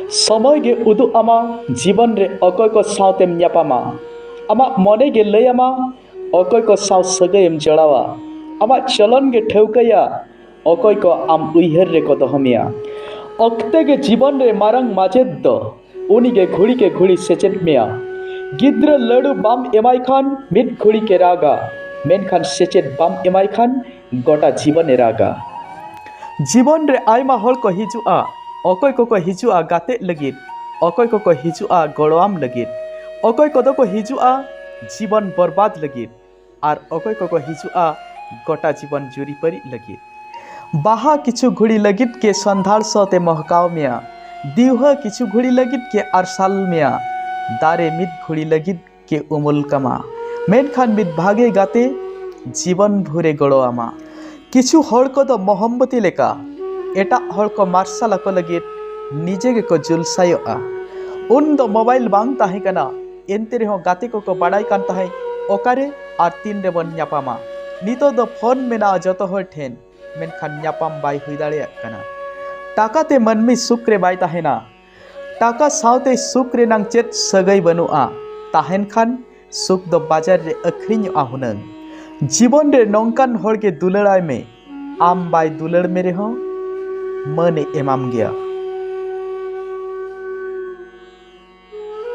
ᱥᱚᱢᱚᱭ ᱜᱮ ᱩᱫᱩᱜ ᱟᱢᱟ ᱡᱤᱵᱚᱱ ᱨᱮ ᱚᱠᱚᱭ ᱠᱚ ᱥᱟᱶᱛᱮᱢ ᱧᱟᱯᱟᱢᱟ ᱟᱢᱟᱜ ᱢᱚᱱᱮ ᱜᱮ ᱞᱟᱹᱭ ᱟᱢᱟ ᱚᱠᱚᱭ ᱠᱚ ᱥᱟᱶ ᱥᱟᱹᱜᱟᱹᱭᱮᱢ ᱡᱚᱲᱟᱣᱟ ᱟᱢᱟᱜ ᱪᱚᱞᱚᱱ ᱜᱮ ᱴᱷᱟᱹᱣᱠᱟᱹᱭᱟ ᱚᱠᱚᱭ ᱠᱚ ᱟᱢ ᱩᱭᱦᱟᱹᱨ ᱨᱮᱠᱚ ᱫᱚᱦᱚ ᱢᱮᱭᱟ ᱚᱠᱛᱮ ᱜᱮ ᱡᱤᱵᱚᱱ ᱨᱮ ᱢᱟᱨᱟᱝ ᱢᱟᱪᱮᱫ ᱫᱚ ᱩᱱᱤ ᱜᱮ ᱜᱷᱩᱲᱤ ᱠᱮ ᱜᱷᱩᱲᱤ ᱥᱮᱪᱮᱫ ᱢᱮᱭᱟ ᱜᱤᱫᱽᱨᱟᱹ ᱞᱟᱹᱰᱩ ᱵᱟᱢ ᱮᱢᱟᱭ ᱠᱷᱟᱱ ᱢᱤᱫ ᱜᱷᱩᱲᱤ ᱜᱮ ᱨᱟᱜᱟ ᱢᱮᱱᱠᱷᱟᱱ ᱥᱮᱪᱮᱫ ᱵᱟᱢ ᱮᱢᱟᱭ ᱠᱷᱟᱱ ᱜᱚᱴᱟ ᱡᱤᱵᱚᱱ ᱮ ᱨᱟᱜᱟ᱾ ᱡᱤᱵᱚᱱ ᱨᱮ ᱟᱭᱢᱟ ᱦᱚᱲ ᱠᱚ ᱦᱤᱡᱩᱜᱼᱟ᱾ ᱚᱠᱚᱭ ᱠᱚ ᱠᱚ ᱦᱤᱡᱩᱜᱼᱟ ᱜᱟᱛᱮᱜ ᱞᱟᱹᱜᱤᱫ᱾ ᱚᱠᱚᱭ ᱠᱚ ᱠᱚ ᱦᱤᱡᱩᱜᱼᱟ ᱜᱚᱲᱚᱣᱟᱢ ᱞᱟᱹᱜᱤᱫ᱾ ᱚᱠᱚᱭ ᱠᱚᱫᱚ ᱠᱚ ᱦᱤᱡᱩᱜᱼᱟ ᱡᱤᱵᱚᱱ ᱵᱚᱨᱵᱟᱫᱽ ᱞᱟᱹᱜᱤᱫ᱾ ᱟᱨ ᱚᱠᱚᱭ ᱠᱚ ᱠᱚ ᱦᱤᱡᱩᱜᱼᱟ ᱜᱚᱴᱟ ᱡᱤᱵᱚᱱ ᱡᱩᱨᱤᱯᱟᱹᱨᱤᱜ ᱞᱟᱹᱜᱤᱫ᱾ ᱵᱟᱦᱟ ᱠᱤᱪᱷᱩ ᱜᱷᱩᱲᱤ ᱞᱟᱹᱜᱤᱫ ᱜᱮ ᱥᱚᱸᱫᱷᱟᱲ ᱥᱚ ᱛᱮ ᱢᱚᱦᱠᱟᱣ ᱢᱮᱭᱟ᱾ ᱫᱤᱣᱦᱟᱹ ᱠᱤᱪᱷᱩ ᱜᱷᱩᱲᱤ ᱞᱟᱹᱜᱤᱫ ᱜᱮ ᱟᱨᱥᱟᱞ ᱢᱮᱭᱟ᱾ ᱫᱟᱨᱮ ᱢᱤᱫ ᱜᱷᱩᱲᱤ ᱞᱟᱹᱜᱤᱫ᱾ ᱠᱮ ᱩᱢᱩᱞ ᱠᱟᱢᱟ ᱢᱮᱱᱠᱷᱟᱱ ᱢᱤᱫ ᱵᱷᱟᱜᱮ ᱜᱟᱛᱮ ᱡᱤᱵᱚᱱ ᱵᱷᱩᱨᱮ ᱜᱚᱲᱚ ᱟᱢᱟ ᱠᱤᱪᱷᱩ ᱦᱚᱲ ᱠᱚᱫᱚ ᱢᱚᱦᱚᱢᱵᱚᱛᱤ ᱞᱮᱠᱟ ᱮᱴᱟᱜ ᱦᱚᱲ ᱠᱚ ᱢᱟᱨᱥᱟᱞ ᱟᱠᱚ ᱞᱟᱹᱜᱤᱫ ᱱᱤᱡᱮ ᱜᱮᱠᱚ ᱡᱩᱞᱥᱟᱭᱚᱜᱼᱟ ᱩᱱ ᱫᱚ ᱢᱳᱵᱟᱭᱤᱞ ᱵᱟᱝ ᱛᱟᱦᱮᱸ ᱠᱟᱱᱟ ᱮᱱᱛᱮ ᱨᱮᱦᱚᱸ ᱜᱟᱛᱮ ᱠᱚᱠᱚ ᱵᱟᱰᱟᱭ ᱠᱟᱱ ᱛᱟᱦᱮᱸᱫ ᱚᱠᱟᱨᱮ ᱟᱨ ᱛᱤᱱ ᱨᱮᱵᱚᱱ ᱧᱟᱯᱟᱢᱟ ᱱᱤᱛᱚᱜ ᱫᱚ ᱯᱷᱳᱱ ᱢᱮᱱᱟᱜᱼᱟ ᱡᱚᱛᱚ ᱦᱚᱲ ᱴᱷᱮᱱ ᱢᱮᱱᱠᱷᱟᱱ ᱧᱟᱯᱟᱢ ᱵᱟᱭ ᱦᱩᱭ ᱫᱟᱲᱮᱭᱟᱜ ᱠᱟᱱᱟ ᱴᱟᱠᱟᱛᱮ ᱢᱟᱹᱱᱢᱤ ᱥᱩᱠ ᱨᱮ ᱵᱟᱭ ᱛᱟᱦᱮᱱᱟ ᱴᱟᱠᱟ ᱥᱟᱶᱛᱮ ᱥᱩᱠ ᱨᱮᱱᱟᱝ ᱪᱮᱫ ᱥᱟᱹᱜᱟᱹᱭ ᱵᱟᱹᱱᱩᱜᱼᱟ ᱛᱟᱦᱮᱱ ᱠᱷᱟᱱ ᱥᱩᱠ ᱫᱚ ᱵᱟᱡᱟᱨ ᱨᱮ ᱟᱹᱠᱷᱨᱤᱧᱚᱜᱼᱟ ᱦᱩᱱᱟᱹᱝ ᱡᱤᱵᱚᱱ ᱨᱮ ᱱᱚᱝᱠᱟᱱ ᱦᱚᱲ ᱜᱮ ᱫᱩᱞᱟᱹᱲᱟᱭ ᱢᱮ ᱟᱢ ᱵᱟᱭ ᱫᱩᱞᱟᱹᱲ ᱢᱮ ᱨᱮᱦᱚᱸ ᱢᱟᱹᱱᱮ ᱮᱢᱟᱢ ᱜᱮᱭᱟ